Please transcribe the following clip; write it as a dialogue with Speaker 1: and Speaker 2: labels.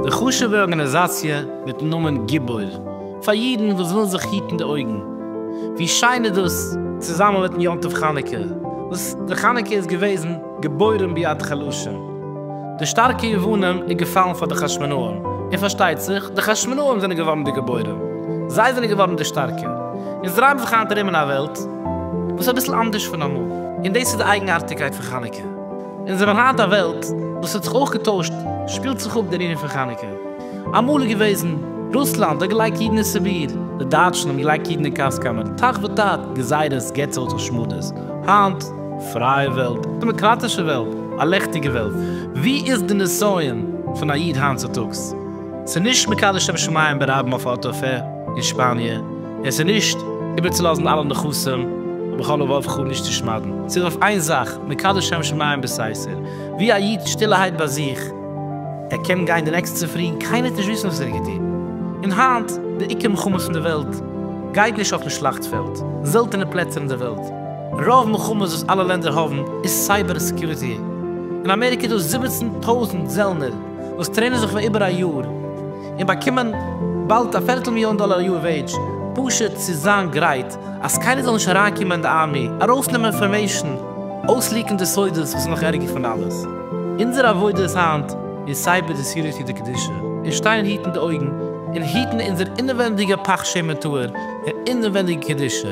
Speaker 1: די חשוב'ע ארגאניזאציע מיטן נאמען גיבור פאר אידן וואס ווילן זיך היטן די אויגן, ווי שיין איז דאס, צוזאמען מיטן יום טוב חנוכה וואס די חנוכה איז געוועזן. געבוירן ביד חלשה. די שטארקע יוונים איז געפאלן פאר די חשמונאים, און פארשטייט זיך, די חשמונאים זענען געווארן די געבוירן. זיי זענען געווארן די שטארקע. אונז דרייען זיך היינט ארום אין א וועלט וואס איז אביסל אנדערש פון אמאל. און דאס איז די אייגנארטיגקייט פון חנוכה. אונז זענען היינט א וועלט וואס האט זיך אויך געטוישט, שפילט זיך אפ דער ענין פון חנוכה. אמאל איז געוועזן, רוסלאנד האט געלייגט אידן אין סיביר, די דייטשן האבן געלייגט אידן אין קאסקאמער, תח ותט, גזירות, געצעלט, השמדות. היינט. פרייע וועלט, דעמאקראטישע וועלט, א לעכטיגע וועלט, ווי איז די נסיון פון א איד היינט צוטאגס? ס'איז נישט מקדש שם שמים ברבים אויף א אוטו פער אין שפאניע, און ס'איז נישט איבערצולאזן אלע נכסים בכל לבב חו נישט צו שמד'ן, ס'איז אויף איין זאך, מקדש שם שמים בסייסער, ווי א איד שטילערהייט ביי זיך, ער קען גיין די נעקסטע פרי און קיינער וועט נישט וויסן וואס ער האט געטון, און היינט די עיקר מלחמות אין די וועלט גייט נישט אויפן שלאכט פעלד, זעלטענע פלעצער אין די וועלט. רוב מלחמות וואס אלע לענדער האבן איז סייבער סעקיוריטי. אין אמעריקע איז דא זיבעצן טויזנט זעלנער וואס טרעינען זיך פאר איבער א יאר און באקומען באלד א פערטל מיליאן דאלער א יאר וועידזש פשוט צו זיין גרייט אז קיינער זאל נישט אריינקומען אין די ארמי ארויסנעמען אינפארמעישן אויסליעקן די סודות וואס איז נאך ערגער פון אלעס אונזער עבודה איז היינט איז סייבער די סעקיוריטי די קדושה און שטיין היטן די אויגן און היטן אונזער אינעווענדיגע פך שמן טהור און אינעווענדיגע קדושה.